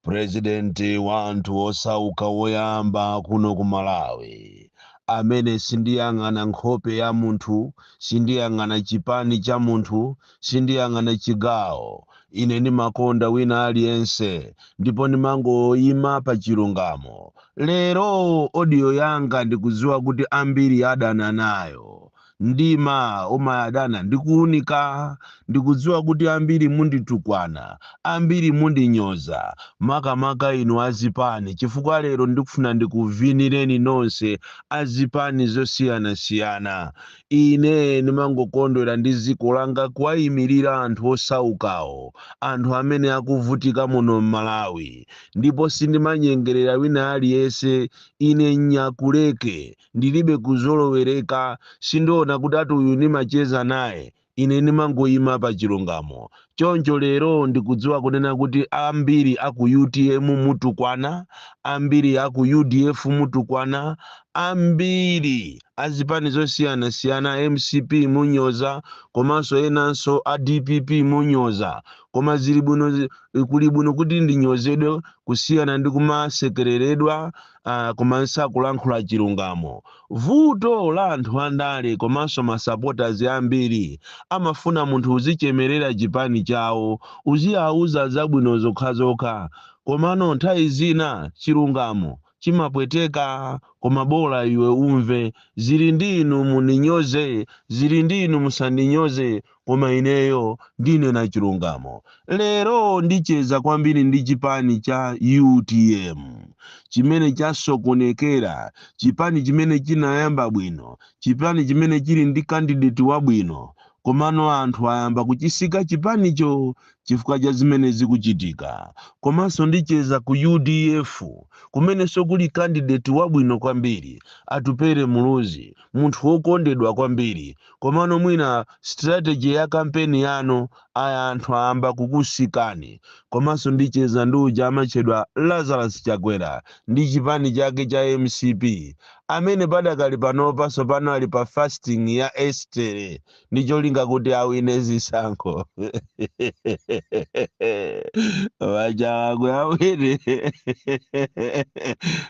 Purezidenti wa anthu osauka woyamba kuno ku Malawi amene sindiyang'ana nkhope ya munthu, sindiyang'ana chipani cha munthu, sindiyang'ana chigawo, ine ndimakonda wina aliyense ndipo ndimangoima pa chilungamo. Lero audio yanga ndikudziwa kuti ambiri adana nayo. Mdima umadana ndi kuunika. Ndikudziwa kuti ambiri munditukwana, ambiri mundinyoza, makamaka inu azipani chifukwa lero ndikufuna ndikuvinireni nonse azipani zosiyanasiyana. Ine ndimangokondwera ndi dziko langa kuwaimilira anthu osaukawo, anthu amene akuvutika muno m'Malawi. Ndipo sindimanyengerera wina aliyense, ine nyakuleke. ndiribe kuzolowereka, sindiwona kuti ati uyu ndimacheza naye, ine ndimangoyima pa chilungamo. Choncho lero ndikudziwa kunena kuti ambiri a ku utm mutukwana, ambiri a ku udf mutukwana, ambiri a zipani zosiyanasiyana mcp munyoza komanso enanso a dpp munyoza, koma ziri bwino, kuli bwino kuti ndinyozedwe kusiyana ndi kumasekeleredwa. koma nisakulankhula chilungamo vuto la anthu andale komanso masapotazi ambiri amafuna munthu uzichemerera chipani chawo uziauza zabwino zokhazokha komano nthawi zina chilungamo chimapweteka koma bola iwe umve zili ndi inu mundinyoze zili ndi inu musandinyoze koma ineyo ndinena chilungamo. Lero ndicheza kwambiri ndi chipani cha utm chimene chasokonekera, chipani chimene chinayamba bwino, chipani chimene chili ndi kandideti wabwino, komano anthu ayamba kuchisika chipanicho chifukwa cha zimene zikuchitika. Komanso ndicheza ku udf kumenenso kuli kandideti wabwino kwambiri, Atupele Muluzi, munthu wokondedwa kwambiri, Komano mwina strategy ya campaign yanu ayi anthu ayamba kukusikani. Komanso ndicheza ndi uja amatchedwa Lazarus Chakwera ndi chipani chake cha mcp amene padakali panopa tsopano ali pa fasting ya Estere ndi cholinga kuti awine zisankho. Waja Chakwe awine.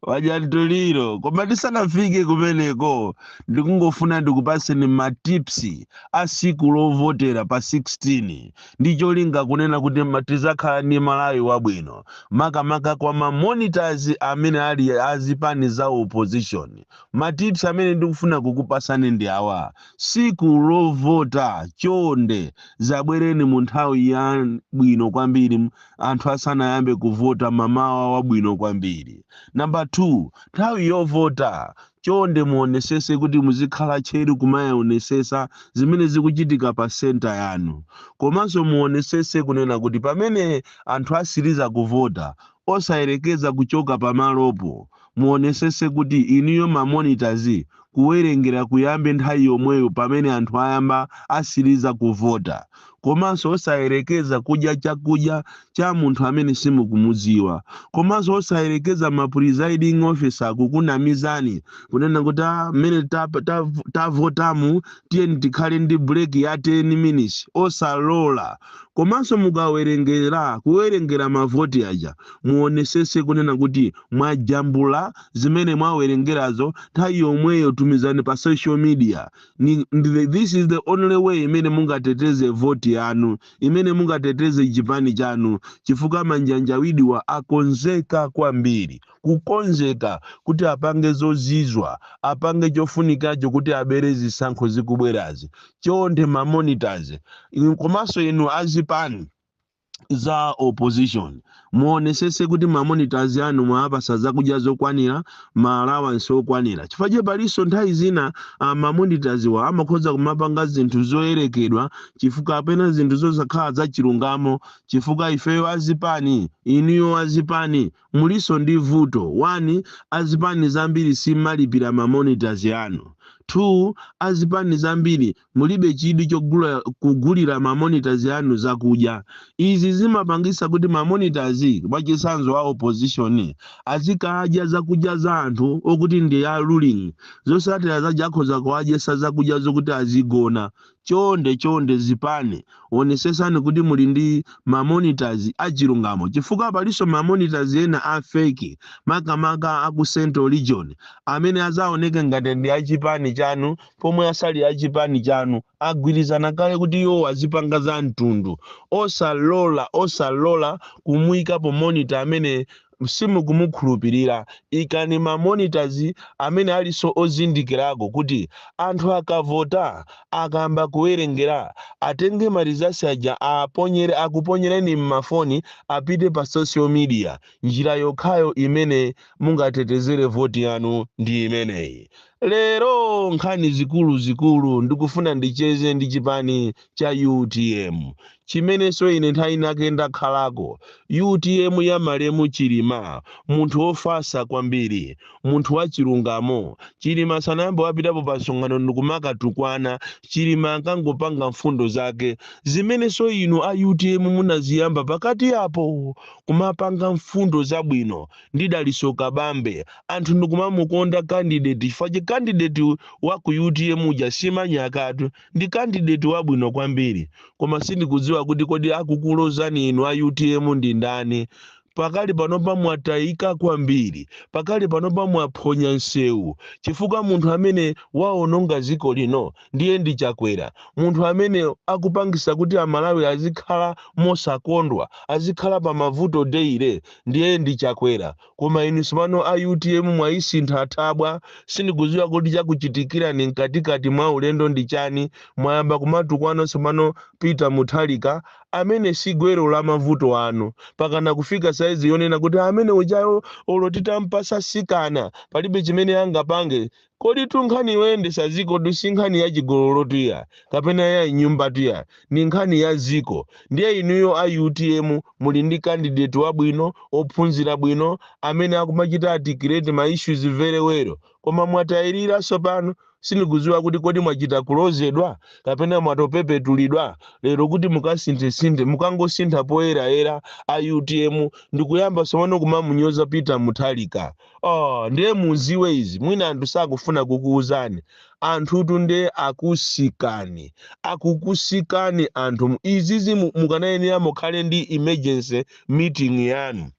Wadya mtuliro. Koma tisanafike kumeneko ndikungofuna ndikupatseni ma tips a siku lovotera pa 16 ndi cholinga kunena kuti ma- tizakhala ndi malawi wabwino makamaka kwa ma monitors amene ali azipani za opposition ma tips amene ndikufuna kukupasani ndi awa siku lovota chonde zabwereni mu nthawi ya bwino kwambiri m- anthu asanayambe kuvota mamawa wabwino kwambiri namba 2 nthawi yovota Chonde muonesese kuti muzikhala tcheru kumaeonesesa zimene zikuchitika pa centre yanu. Komanso muonesese kunena kuti pamene anthu asiliza kuvota osayerekeza kuchoka pamalopo. Muonesese kuti inuyo ma monitors kuwerengera kuyambe nthawi yomweyo pamene anthu ayamba, asiliza kuvota. komanso osayerekeza kudya chakudya cha munthu amene simukumudziwa komanso osayerekeza ma presiding officer kukunamizani kunena kuti "Ah, mmene tap- tav- tavotamu tiyeni tikhale ndi break ya 10 minutes osalola komanso mukawerengera kuwerengera mavoti aja muonesese kunena kuti mwajambula zimene mwawerengerazo nthawi yomweyo tumizani pa social media Ni, ndi the, this is the only way imene mungateteze voti yanu, imene mungateteze chipani chanu, chifukwa manjanjawidiwa akonzeka kwambiri, kukonzeka kuti apange zozizwa, apange chofunikacho kuti abere zisankho zikubwerazi. Chonde ma monitors, komanso inu azipani, za opposition muonesese kuti mamonitors anu mwawapasa zakudya zokwanira ma allowance okwanira chifukwa che palinso nthawi zina ah, mamonitorswa amakhoza kumapanga zinthu zoyerekedwa chifukwa kapena zinthu zosakhala zachilungamo chifukwa ifeyo azipani inuyo azipani mulinso ndi vuto one azipani zambiri simalipira mamonitors anu two azipani zambiri Mulibe chidwi chogula, kugulira ma monitors anu zakudya. Izi zimapangitsa kuti ma monitors, mwachitsanzo a opposition, azikadya zakudya za anthu okuti ndi a ruling. Zosatira zache akhoza kuwadyetsa zakudya zokuti azigona. Chonde, chonde zipani, onetsetsani kuti muli ndi ma monitors achilungamo chifukwa palinso ma monitors ena a fake makamaka a ku central region amene azaoneke ngati ndi a chipani chanu pomwe asali achipani chanu agwirizana kale kuti iwo azipanga za mtundu osalola osalola kumuikapo monitor amene simukumukhulupirira ikani ma monitors amene aliso ozindikirako kuti anthu akavota akayamba kuwerengera atenge ma results aja aponyere akuponyereni mmafoni apite pa social media njira yokhayo imene mungatetezere voti yanu ndi imeneyi Lero nkhani zikuluzikulu ndikufuna ndicheze ndi chipani cha utm chimenenso ine nthawi inake ndakhalako, utm ya malemu Chilima, munthu wofatsa kwambiri, munthu wachilungamo. Chilima sanayambe wapitapo pa msonkhano ndikumakatukwana, Chilima ankangopanga mfundo zake zimenenso inu a utm munaziyamba pakati apo, kumapanga mfundo zabwino ndi Dalitso Kabambe anthu ndikumamukonda candidate chifukwa candidate wa ku utm uja si manyakatu ndi candidate wabwino kwambiri koma sindikudziwa kuti kodi akukulozani inu a utm ndi ndani pakali panopa mwatayika kwambiri pakali panopa mwaphonya nsewu chifukwa munthu amene waononga dziko lino ndiye ndi chakwera munthu amene akupangisa kuti amalawi azikhala mosakondwa azikhala pa mavuto deire ndiye ndi chakwera koma inu sopano a utm mwayisintha thabwa sindikuziwa kuti chakuchitikirani mkatikati mwa ulendo ndi chani mwayamba kumatukwana sopano peter Mutharika amene si gwero la mavuto anu pakana kufika saizi yonena kuti amene ujayo olo titampasa mtsikana palibe chimene angapange Koditu nkhani yoyendetsa dzikotu si nkhani ya chigololotu iyayi, kapena ya m'nyumbatu iyayi, ndi nkhani ya dziko. Ndiye inuyo a utm muli ndi candidate wabwino, wophunzira bwino, amene akumachita articulate ma issues very well. Koma mwatayirira tsopano. Sindikudziwa kuti kodi mwachita kulozedwa, kapena mwangopepetulidwa lero kuti mukasinthesinthe. Mukangosintha poyerayera a utm, ndikuyamba tsopano kumamunyoza Peter Mutharika. Ndiye muziwe izi mwina anthu sakufuna kukuuzani anthutu nde akukusiyani akukusiyani anthu mu- izizi mu- mukanayenera mukhale ndi emergency meeting yanu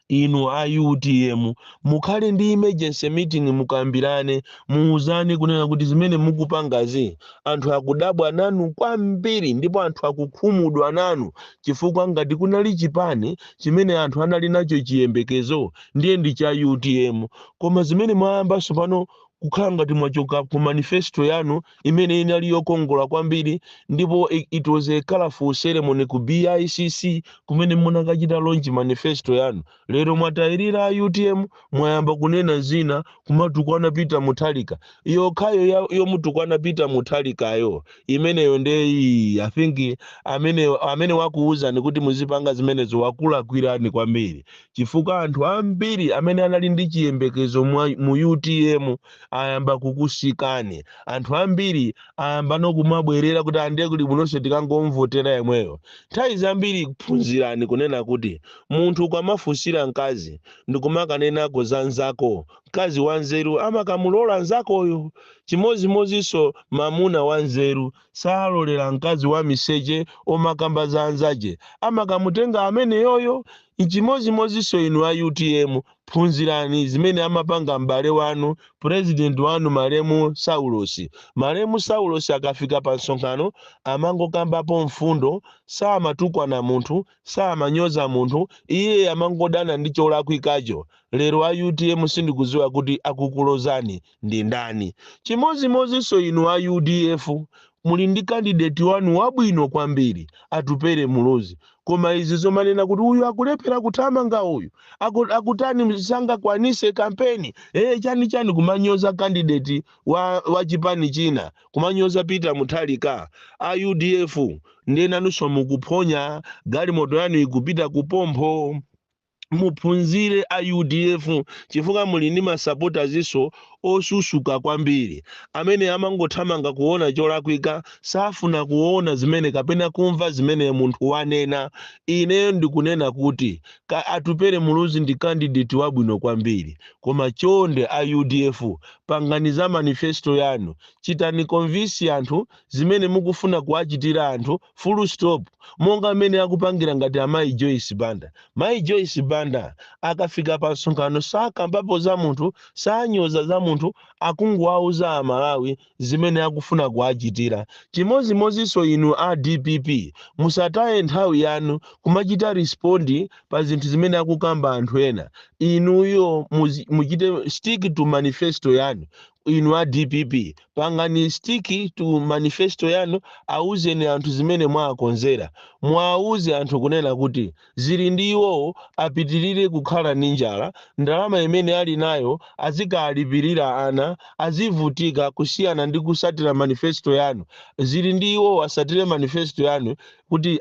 inu a utm mukhale ndi emergency meeting mukambirane muuzane kunena kuti zimene mukupangazi anthu akudabwa nanu kwambiri ndipo anthu akukhumudwa nanu chifukwa ngati kunali chipani chimene anthu anali nacho chiyembekezo ndiye ndi cha utm koma zimene mwayamba tsopano kukhala ngati mwachoka ku manifesto yanu imene inali yokongola kwambiri ndipo i- it was a colorful ceremony ku BICC kumene munakachita launch manifesto yanu Lero mwatayirira a utm mwayamba kunena zina kumatukwana Peter Mutharika. Yokhayo ya- yomutukwana Peter Mutharikayo imeneyo nde ii, I think amene amene wakuwuzani kuti muzipanga zimenezo wakulakwirani kwambiri. Chifukwa anthu ambiri amene anali ndi chiyembekezo mwa- mu utm ayamba kukusiyani. Anthu ambiri ayamba nokumabwerera kuti a nde kuli bwinonso tikangomvotera yemweyo. Nthawi zambiri phunzirani kunena kuti Munthu ukamafunsira mkazi ndikumakanenako za mnzako, mkazi wanzeru amakamulola mnzakoyo. Chimodzimodzinso mamuna wanzeru salolera mkazi wamiseche omakamba za anzache, amakamutenga ameneyoyo. Chimodzimodzinso inu a utm, phunzirani zimene amapanga m'bale wanu, president wanu malemu Saulosi. Malemu Saulosi akafika pa msonkhano amangokambapo mfundo, samatukwana munthu, samanyoza munthu iye amangodana ndi cholakwikacho lero a utm sindikuziwa kuti akukulozani ndi ndani chimozimozinso inu a udf muli ndi candidate wanu wabwino kwambiri atupere muluzi koma izi zomanena kuti uyu akulephera kuthamanga uyu aku, akutani sangakwanise kampeni ee chani chani kumanyoza candidate wa, wa chipani china kumanyoza peter muthalika a udf ndiye nanunso mukuphonya galimoto yanu ikupita ku phompho muphunzire a udf chifukwa muli ndi masapoti ajinso osusuka kwambiri amene amangothamanga kuona cholakwika safuna kuona zimene kapena kumva zimene munthu wanena ineyo ndikunena kuti Atupele Muluzi ndi candidate wabwino kwambiri koma chonde a udf pangani za manifesto yanu chitani convince anthu zimene mukufuna kuwachitira anthu full stop monga mmene akupangira ngati amayi Joyce Banda. Mayi Joyce Banda akafika pa msonkhano sakambapo za munthu sanyoza za munthu akungowauza a Malawi zimene akufuna kuwachitira. Chimodzimodzinso inu a dpp, musataye nthawi yanu kumachita respond pa zinthu zimene akukamba anthu ena. Inuyo muzi- muchite stick to manifesto yanu. Inu a dpp pangani stick to manifesto yanu, auzeni anthu zimene mwawakonzera. Muwauze anthu kunena kuti Zili ndi iwowo apitilire kukhala ndi njala ndalama imene ali nayo azikalipilira ana azivutika kusiyana ndi kusatira manifesto yanu zili ndi iwowo asatire manifesto yanu kuti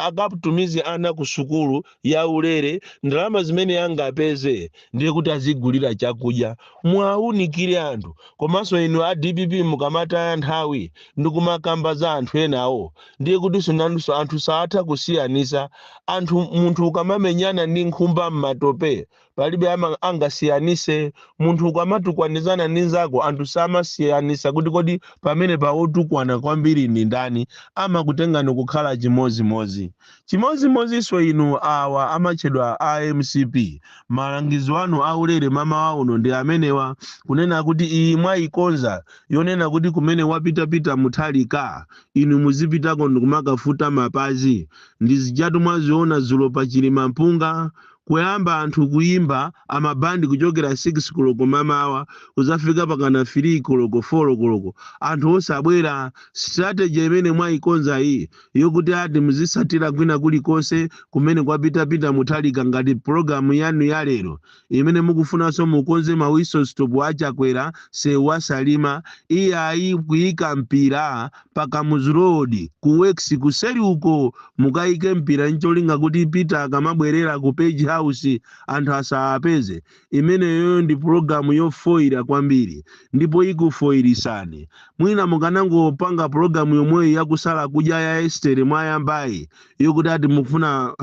akatumize ana ku sukulu ya ulere ndalama zimene angapeze ndiye kuti azigulira chakudya muwaunikire anthu komanso inu a dpp mukamataya nthawi ndikumakamba za anthu enawo ndiye kutinso nanunso anthu saatha kusiyanisa anthu munthu ukamamenyana ndi nkhumba m'matope palibe ama- angasiyanise munthu ukamatukwanizana ndi nzako anthu samasiyanisa kuti kodi pamenepa otukwana kwambiri ndi ndani amakutengani kukhala chimodzimodzi chimodzimodzinso inu awa amatchedwa a mcp malangizo anu aulere mamawa uno ndi amenewa kunena kuti iyi mwayikonza yonena kuti kumene wapita Peter muthalika Inu muzipitako ndikumakafuta mapazi. Ndizijatu mwaziona dzulo pa Chilimampunga, kuyamba anthu kuyimba a ma band kuchokera 6 koloko mamawa kudzafika pakana 3 koloko, 4 koloko anthu osabwera. Strategy imene mwayikonzayi yokuti ati muzitsatira kwina kulikonse kumene kwapita Peter Mutharika ngati program yanu ya lero imene mukufunanso mukonze ma whistle stop a Chakwera sewu wa Salima iyayi kuika mpira pa Kamuzu Road ku works kuseri uko mukaike mpira ncholinga kuti Peter akamabwerera ku Page House anthu asawapeze imeneyoyo ndi pulogalamu yofoira kwambiri ndipo ikufoirisani mwina mukanangopanga pulogalamu yomweyo yakusala kudya ya Estere mwayambayi yokuti ati mufuna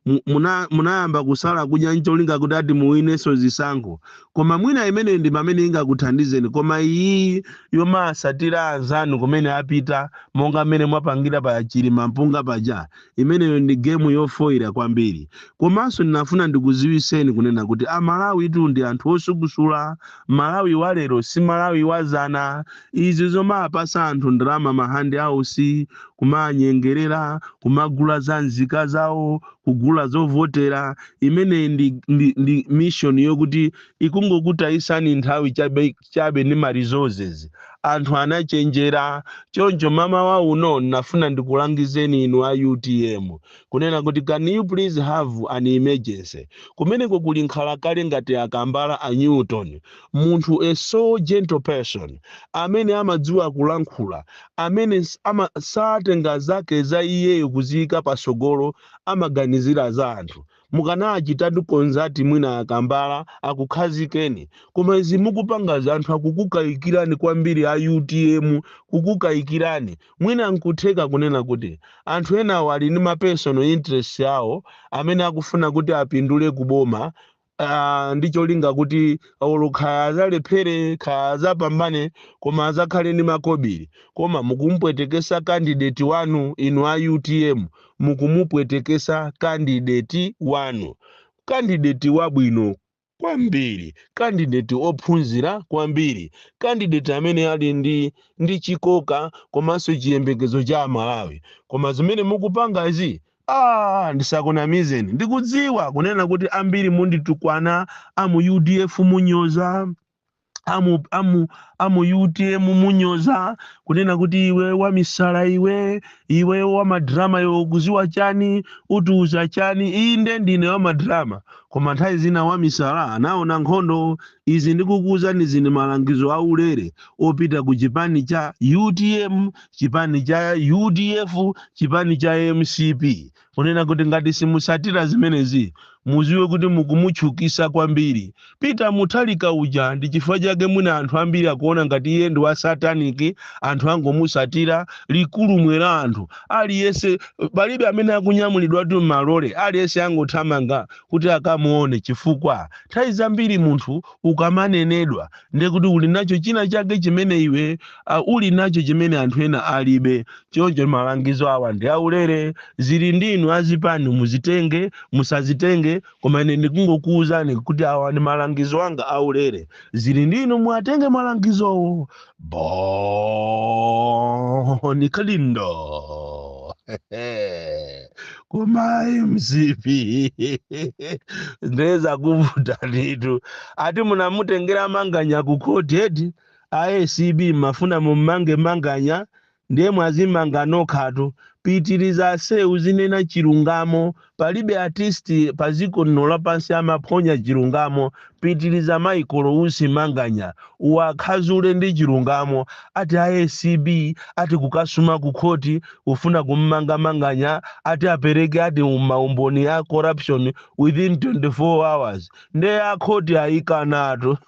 mu- muna- munayamba kusala kudya ncholinga kuti ati muwineso zisankho koma mwina imeneyi ndi pamene ingakuthandizeni koma iyi yomasatira anzanu kumene apita monga mmene mwapangira pa chilimampunga paja imeneyo ndi gemu yofoyira kwambiri komanso ndinafuna ndikuziwiseni kunena kuti amalawitu ndi anthu osukusula Malawi wa lero si Malawi wa zana izi zomapasa anthu ndalama ma hand outs kumaanyengerera kumagula za nzika zawo kugula zovotera imeneyi ndi ndi ndi mission yokuti ikungokutayisani nthawi chabe chabe ndi ma resources anthu anachenjera choncho mamawa uno ndinafuna ndikulangizeni inu a utm kunena kuti can you please have an emergency kumeneko kuli nkhalakale ngati a kambala a newton munthu a so gentle person amene amadziwa kulankhula amene s- ama, satenga zake za iyeyo kuziyika pasogolo amaganizira za anthu mukanachitatu consult mwina a kambala akukhazikeni koma izi mukupangazi anthu akukukayikirani kwambiri a utm kukukayikirani Mwina n'kutheka kunena kuti anthu enawo ali ndi ma personal interests awo amene akufuna kuti apindule ku boma aah ndi cholinga kuti olo kaya azalephere kaya azapambane koma azakhale ndi makobili. Koma mukumupwetekesa candidate wanu inu a utm mukumupwetekesa candidate wanu. Candidate wabwino kwambiri, candidate ophunzira kwambiri, candidate amene ali ndi ndi chikoka komanso chiyembekezo cha Amalawi. Koma zimene mukupangazi Ah, ndisakunamizeni ndikudziwa kunena kuti ambiri munditukwana a mu udf munyoza amu utm munyoza kunena kuti iwe wamisala iwe iwe wamadrama iwe ukuziwa chani utiuza chani inde ndine wamadrama koma nthawi zina wamisala anaona nkhondo izi ndikukuuzani zini malangizo aulere opita ku chipani cha utm chipani cha udf chipani cha mcp kunena kuti ngati simusatira zimenezi muziwe kuti mukumutchukisa kwambiri peter mutharika uja ndi chifukwa chake mwina anthu ambiri akuona ngati iye ndi wa sataniki anthu angomusatira ligulumwera anthu aliyense palibe amene akunyamulidwatu m'malole aliyense angothamanga kuti akamuone chifukwa nthawi zambiri munthu ukamanenedwa ndiye kuti uli nacho china chake chimene iwe uli nacho chimene anthu ena alibe choncho malangizo awa ndi aulere zili ndi inu azipani muzitenge musazitenge koma ine ndikungokuwuzani kuti awa ndi malangizo anga aulere zili ndi inu muwatenge malangizowo boni kalindo koma mcp ndeza kuvuta nditu ati munamutengera manganya ku khoti eti a acb mmafuna mummange manganya ndiye mwazimanga nokhatu pitiliza ase uzinena chilungamo palibe artist paziko lino lapansi amaphonya chilungamo pitiliza michael usi manganya uwakhazule ndi chilungamo ati a acb ati kukasuma ku khoti kufuna kummanga manganya ati apereke ati maumboni a corruption within 24 hours ndiye akhoti ayikanatu